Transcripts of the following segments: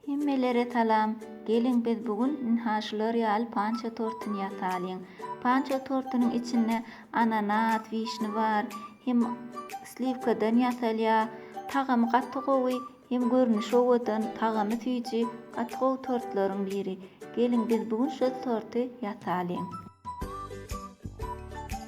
Hemmelere salam. Geliň biz bu gün ynha şular ýaly panço tortuny ýasalyň. Panço tortunyň içinde ananas, wişni bar. Hem sliwkadan ýasalýar. Tagamy gaty gowy, hem görnüşi owadan, tagamy süýji, gaty gowy tortlaryň biri. Geliň biz bu gün şol torty ýasalyň.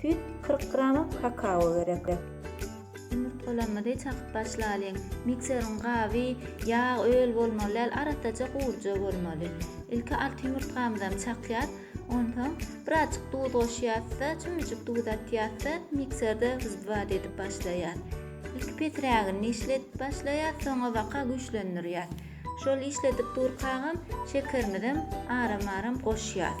Süýt, kyrk gram kakao gerek. Ýumurtgalarymyzy çakyp başlalyň. Mikseriň gaby ýag öl bolmaly däl, arassaja guruja bolmaly. Ilki alty ýumurtgamyzam çakýas. Onsoň birazjyk duz goşýas-da, çümüjik duz atýas-da, mikserde wzbat edip başlaýas. Ilki pesrägini işledip başlaýas, soňabaka güýçlendirýäs. Şol işledip durkagam şekerimizem aram-aram goşýas.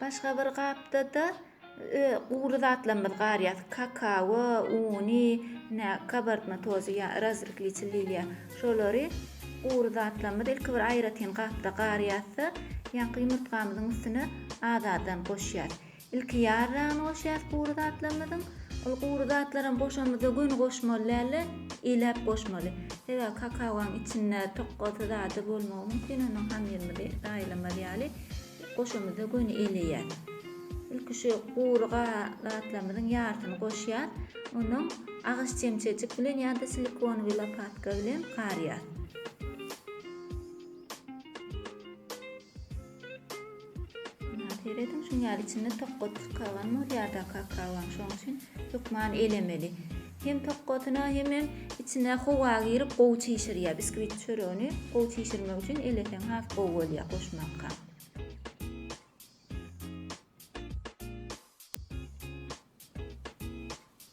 Başga bir gapda-da gury zatlarymyz garýar. Kakao, uny, ine, kabartma tozy, ýa razrkliçi liliýa. Şolary gury zatlarymyzy ilki bir aýratyn gapda garýarys-da, ýaňky ýumurtgamyzyň üstüne azadan goşýarys. Ilki ýar dagyny goşýas gury zatlarymyzyň. Ol gury zatlaram goşamyzda göni goşmaly dälde, iläp goşmaly. Sebäbi kakaoň içinde tokgalsy zady bolmagy mümkin, onuň hamyrymyzy zaýalamaz ýaly goşamyzda göni eleýär. Ilki şu gury zatlarymyzyň ýarsyny goşýas. Ondan agyz çemçejik bilen ýa-da silikonowy lopatka bilen garýas. Muna serediň, şuň ýaly içinde tokgat çykagan bolýar-da kakaoň, şoň üçin hökman elemeli. Hem tokgatyna, hemem içine howa girip gowy çişirýär. Biskwit çöregini gowy çişirmek üçin eleseň has gowy bolýar goşmakka.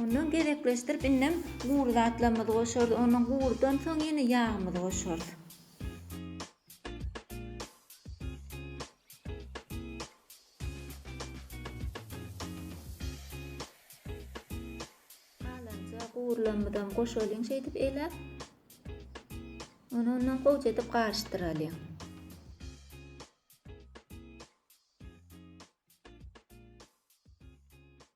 Ondan gezekleşdirip indem gury zatlarymyzy goşarys. Ondan gurudan soň ýene ýagymyzy goşarys. gurlamydan goşalyň şeýdip eläp. Ony ondan gowja edip garyşdyralyň.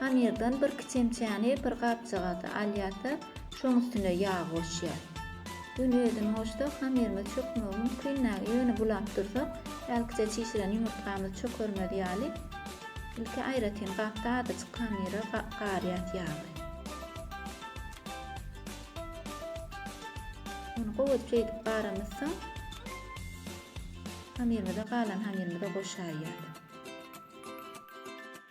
Hamyrdan birki çemçäni bir gapjagaza alýar-da, şoň üstüne ýag goşýar. Gün özüni goşsa, hamyrymyz çökmegi mümkin-dä, ýöne bulap dursak, hälkiçe çişiren ýumurtgamyz çökermez ýaly, ilki aýratyn gapda azajyk hamyra garýas ýagy. Ony gowaça edip garamyzsoň, hamyrymyza galan hamyrymyza goşaýýas.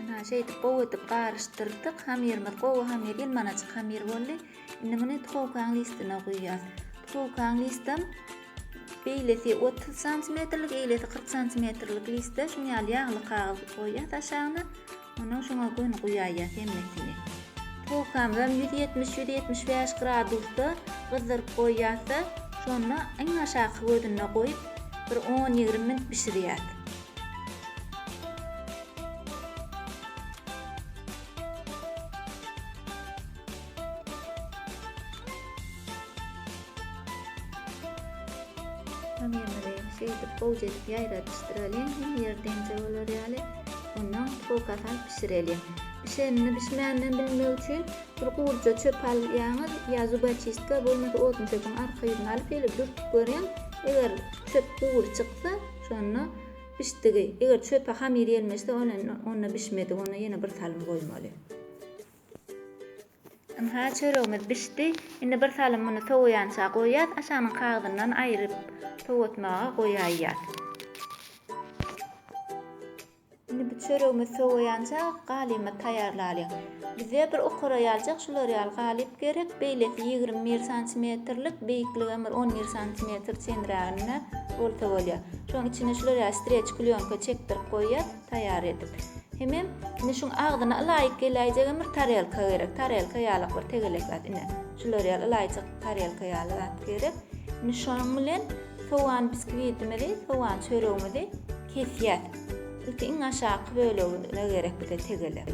Ynha, şeýdip gowy edip garyşdyrdyk. Hamyrymyz gowy hamyr, ýylmanajyk hamyr boldy. Indi muny duhowkaň listine guýýas. Duhowkaň listem beýlesi 30 santimetrlik, eýlesi 40 santimetrlik liste şuny ýaly ýagly kagyz goýýas aşagyna. Ondan şoňa göni guýaýýas hemmesini. Duhowkamyzam 170-175 gradusda gyzdyryp goýýas-da, şonda iň aşaky gözünde goýup, bir on-ýigrimi minut bişirýäs. şeýdip gowja edip ýaýradyşdyralyň hem ýerdeňje bolar ýaly ondan foka sal bişireliň bişenini bişmänini bilmek üçin bir gurja çöp alýaňyz ýa zubachistka bolmasa odunçöpüň arka ýüzüni alyp şeýle dürtüp görüň eger çöp gury çyksa Şonda bişdigi, eger çöpe hamyr ýelmeşse, onda bişmedik, onda ýene bir salym goýmaly. Ynha, çöregimiz bişdi. Indi bir salym muny sowaýança goýýas, aşagynyň kagyzyndan aýryp sowatmaga goýaýýas. Indi bu çöregimiz sowaýança galymy taýýarlalyň. Bize bir okara ýaljak şular ýaly galyp gerek, beýlesi ýigrimi bir santimetrlik, beýikligem bir on bir santimetr çenräginde bolsa bolýar. Şoň içine şular ýaly streç plýonka çekdirip goýýas taýýar edip. Hemem indi şuň agzyna ylaýyk geläýjegem bir tarelka gerek. Tarelka ýalyk bir tegelek zat ine. Şular ýaly ylaýjyk tarelka ýaly zat gerek. Indi şonuň bilen sowan biskwitimizi, sowan çöregimizi Kesýäs. Ilki iň aşaky bölegine gerek bize tegelek.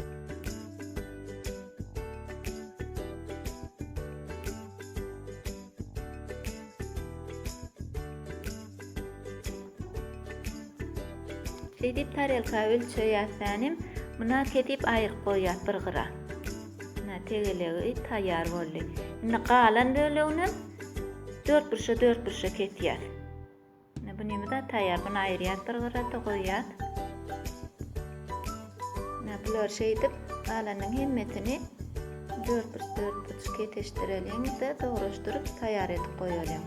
Şeýdip tarelka ölçeýäs tänim. Muna kesip aýryp goýýas bir gyra. Muna tegelegi taýýar boldy. Indi galan böleginem dörtburçja dörtburçja kesýäs. Indi bunymyz da taýýar. Bunu aýyrýas bir gyrada goýýas. Indi bular şeýdip galanyň hemmesini dörtburç dörtburç kesişdireliň de dogryşdyryp taýýar edip goýalyň.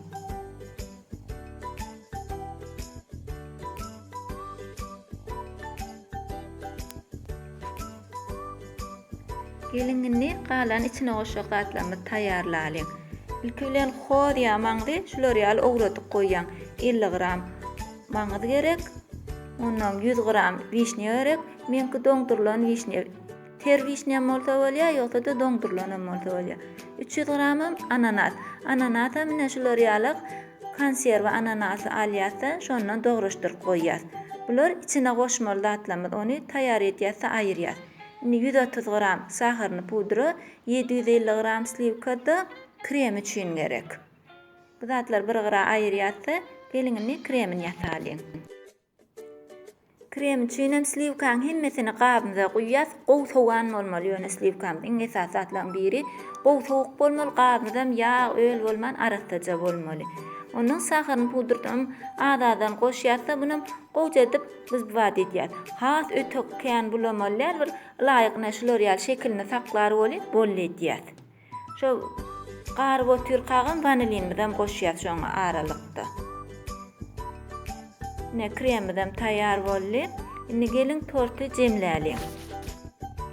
Gelin indi galan içine goşjak zatlarymyzy taýýarlalyň. Ilki bilen hoz ýa maňzy şular ýaly owradyp goýaň. 50 gram maňyz gerek. Ondan 100 gram wişnýa gerek. Meňki doňdurylan wişnýa. Ter wişnýam bolsa bolýar, ýogsa-da doňdurylanam bolsa bolýar. Üç ýüz gramam ananas. Ananasam ine şular ýalak konserwa ananasy alýas-da, şondan dogruşdyryp goýýas. Bular içine goşmaly zatlarymyz. Ony taýýar edýäs-de aýyrýas. Indi ýüz otuz gram saharyny pudra, ýedi ýüz elli gram sliwka-da krem üçin gerek. Bu zatlary bir gyra aýyrýas-da, geliň indi kremini ýasalyň. Krem üçin hem sliwkaň hemmesini gabymyza guýýas. Gowy sowan bolmaly ýöne sliwkamyz. Iň esasy zatlaryň biri gowy sowuk bolmaly, gabymyzam ýag, öl bolman arassaja bolmaly. Ondan saharyny pudrdam az-azdan goşýas-da bunam gowja edip biz bu bada edýäs. Has öte kän bulamaly däl bir ylaýygyna şular ýaly şekilini saklar welin bolly edýäs. Şo garyp otyrkagam wanilinimizem goşýas şoň aralykda. Ine kremimizem taýýar boldy. Indi geliň torty jemläliň.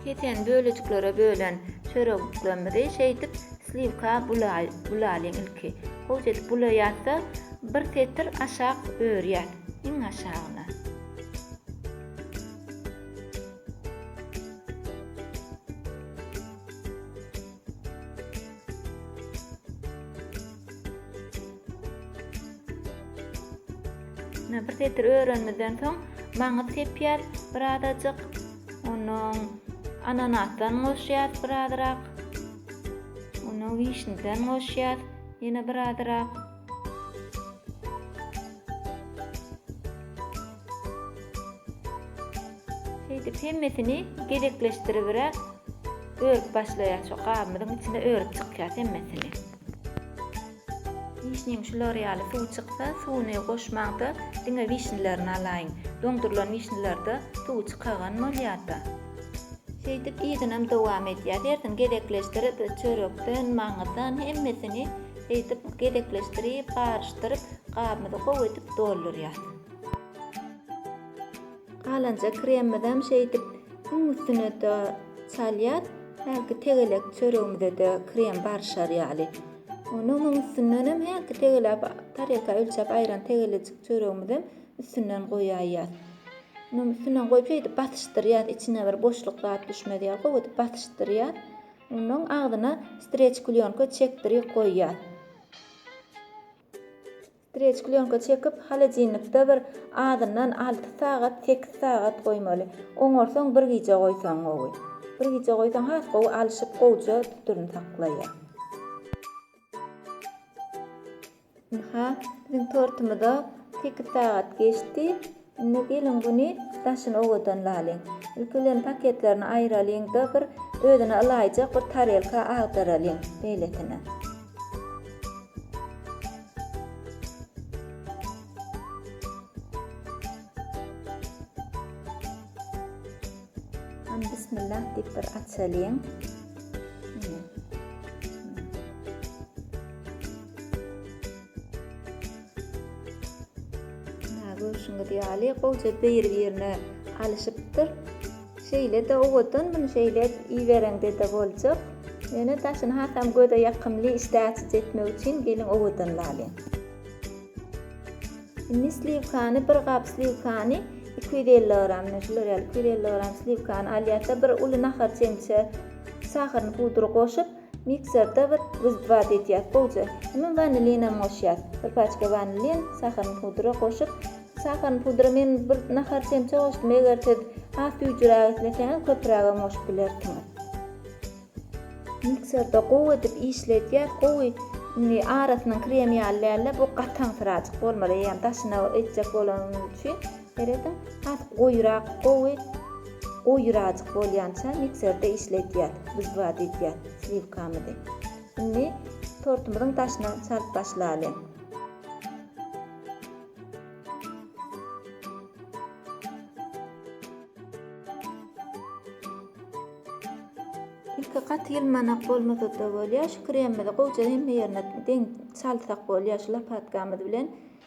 Kesen bölejiklara bölen çöregiklimizi şeýdip sliwka bulalyň ilki. Gowja edip bulaýasda bir setir aşak örýäs. Iň aşagyna. Ine bir setir örenimizden soň maňyz sepýär bir azajyk. Ondan ananasdan goşýar bir azyrak. Ondan wişniden goşýar ýene bir azyrak. Şeýdip hemmesini gezekleşdiribiräk örüp başlaýar. Şu gabymyzyň içine örüp çykýas hemmesini. Wişniň şular ýaly suwy çyksa, suwuny goşmaň-da, diňe wişnilerini alaýyň. Doňdurylan wişnilerde suwy çykagan bolýar-da. Şeýdip yzyna hem dowam edýäs. Hersini gezekleşdirip, çörekden, maňyzdan hemmesini Eýdip gezekleşdirip garyşdyryp gabymyzy gowy edip doldurýas. Galanja kremimizem şeýdip iň üstüne de salýas. Hälki tegelek çöregimize-de krem baryşar ýaly. Ony onuň üstündenem hälki tegelek tarelka ölçäp aýran tegelejik çöregimizem üstünden goýaýýas. Onuň üstünden goýup şeýdip basyşdyrýas içine bir boşluk zat düşmez ýaly gowy edip basyşdyrýas. Onnoň agzyna streç klýonka çekdiri goýýas. Streç klýonka çekip holodilnikde bir azyndan alty sagat, sekiz sagat goýmaly. Oňarsoň bir gije goýsaň gowy. Bir gije goýsaň has gowy alşyp gowja tuturyny saklaýar. Ynha, biziň tortumyza sekiz sagat geçdi. Indi gelin güni daşyny owadan lalyň. Ilki bilen paketlerini aýyralyň-da, bir özüne ylaýjak bir tarelka agdaralyň, beýlesine. Hany, bismillah diýip bir açalyň. Muna görşüňiz ýaly gowja bir-birine alyşypdyr. Şeýle-de owadan muny şeýle ibereňde-de boljak. Ýöne daşyny hasam göze ýakymly, işdä açyjy etmek üçin geliň owadan lalyň. Indi sliwkany, bir gap sliwkany iki ýüz elli gram, mine şular ýaly iki ýüz elli gram sliwkany alýarys-da, bir uly nahar çemçe şahyryny pudry goşup, Mikserde bir wizbat edýäs gowja. Soňam wanilinam goşýas. Bir paçka wanilin, saharyn pudra goşup, saharyn pudra men bir nahar çemçe goşdum, eger siz has düýjüräk isleseňiz köpürägem goşup bilersiňiz. Mikserde gowy edip işledýäs, gowy indi arasynyň krem ýaly dälde bu gataňsyrajyk bolmaly eýýäm daşyna etjek bolanyňyz üçin. Serediň, has goýurak, gowy goýurajyk bolýança mikserde işledýäs, bždwa diýýäs, sliwkamyzy. Indi tortumyzyň daşyna çalyp başlaly. Ilki gaty ýylmanak bolmasa-da bolýar, şu kremimizi gowja hemme ýerine deň çalsak bolýar şu lapatkamyz bilen.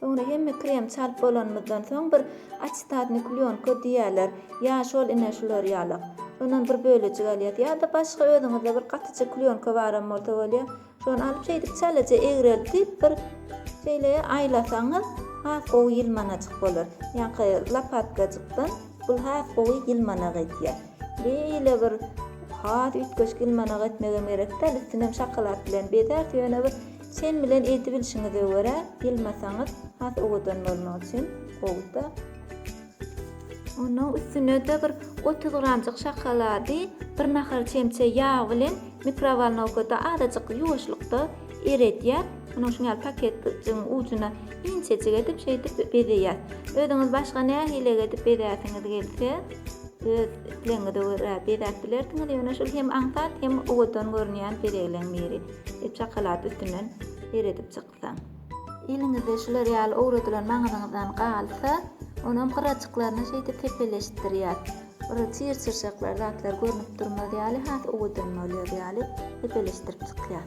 Soňra hemme krem çalyp bolanymyzdan soň bir açitadny klýonka diýýärler, ýa şol ine şular ýalak. Şondan bir bölejik alýas. Ýa-da başga özüňizde bir gatyja klýonka baram bolsa bolýa. Şony alyp şeýdip çalaja egreltip bir şeýle aýlasaňyz has gowy ýylmanajyk bolar. Ýaňky lapatkajykdan bul has gowy ýylmana gaýtýar. Beýle bir has üýtgeşik ýylmanagy etmegem gerek däl, üstünem şokolad bilen bezäris, ýöne bir çen bilen edibilişiňize görä ýylmasaňyz has owadan bolmak üçin gowy-da. Onuň üstüne-de bir otuz gramjyk şokolady bir nahar çemçe ýag bilen mikrowolnowkada azajyk ýuwaşlykda eredýäs. Onuň şuňaly paketjigiň ujuna inçejik edip şeýdip bezeýäs. Özüňiz başga nähili edip bezäsiňiz gelse, Öz islegiňize görä bezäp bilersiňiz, ýöne şul hem aňsat, hem owadan görünýän bezegleň biri. Hep şokolad üstünden seredip çyksaň. Eliňizde şular ýaly owradylan maňyzyňyzdan galsa, onam gyrajyklaryny şeýdip sepeleşdirýär. Bir çyr-çyrşaklar zatlar görnüp durmaz ýaly, has owadan bolýar ýaly sepeleşdirip çykýar.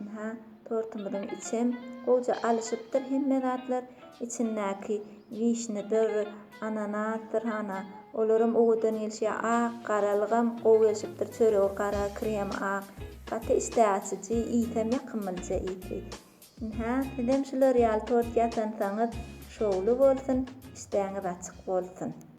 Ynha, tortumyzyň içem gowja alyşypdyr hemme zatlar. Içindäki wişnedir, ananasdyr, hana, olaram owadan gelişýär. Ak garalygam gowy gelşipdir. Çöregi gara, kremi ak. Gaty işdäaçyjy, iýsem ýakymlyja iýsi. Ynha, sizem şular ýaly tort ýasansaňyz şowly bolsun, işdäňiz açyk bolsun!